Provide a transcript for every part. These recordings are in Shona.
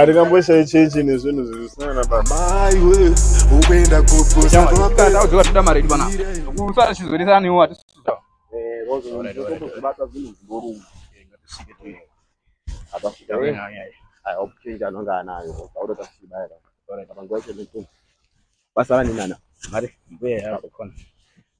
atingamboshayi chechi nezvinhu zvisina na baba maiwe ukuenda kuposaoda mari yedu pana kusara chizoresaniwo atisuda basara ninana mari mbuya yako kona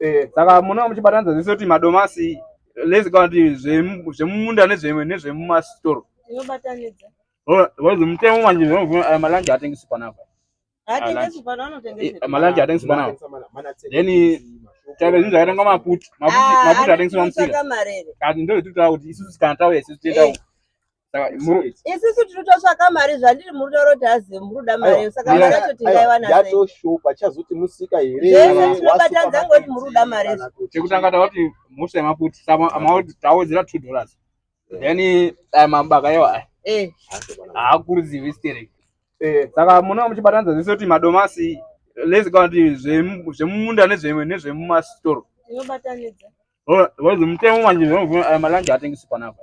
eh, saka munonga muchibatanidza zvese kuti madomasi lese kana kuti zvemumunda nezvemumasitoro inobatanidza mutemo manje eh, malanje atengesi panapa malanje atengesi panapa then chave zvinhu zvakaitanga maputi maputi ah, atengesi mamusika kati ndozvititaura kuti isusu kana tauya isusu tiendau eh. isisu tiri totsvaka mari zvandiri muri taura kuti hazi muri kuda mari saka mari yacho tingaiwanayatoshupa chazoti musika herezvese tinobatadza ngoti muri kuda mari chekutanga tavati musha yemaputi tawedzera two dollars then aya mabaka iwa aya eh. haakurudzivi stering eh. saka munaa muchibatanidza zvese kuti madomasi lese kana kuti zvemumunda nezvemumasitoro tinobatanidza vazomutemo manje zvinofuna aya malanje atengisi panapa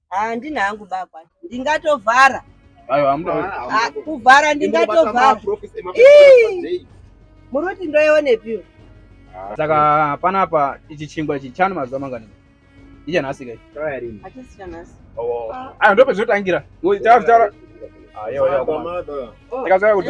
handina hangu baba ndingatovhara kuvhara ndingatovhara muri kuti ndoionepiwo ah, saka panapa ichi chingwa ichi chani mazuva mangani ichanhasi kai oh. ah. ah, ndopezotangira takazoya kuti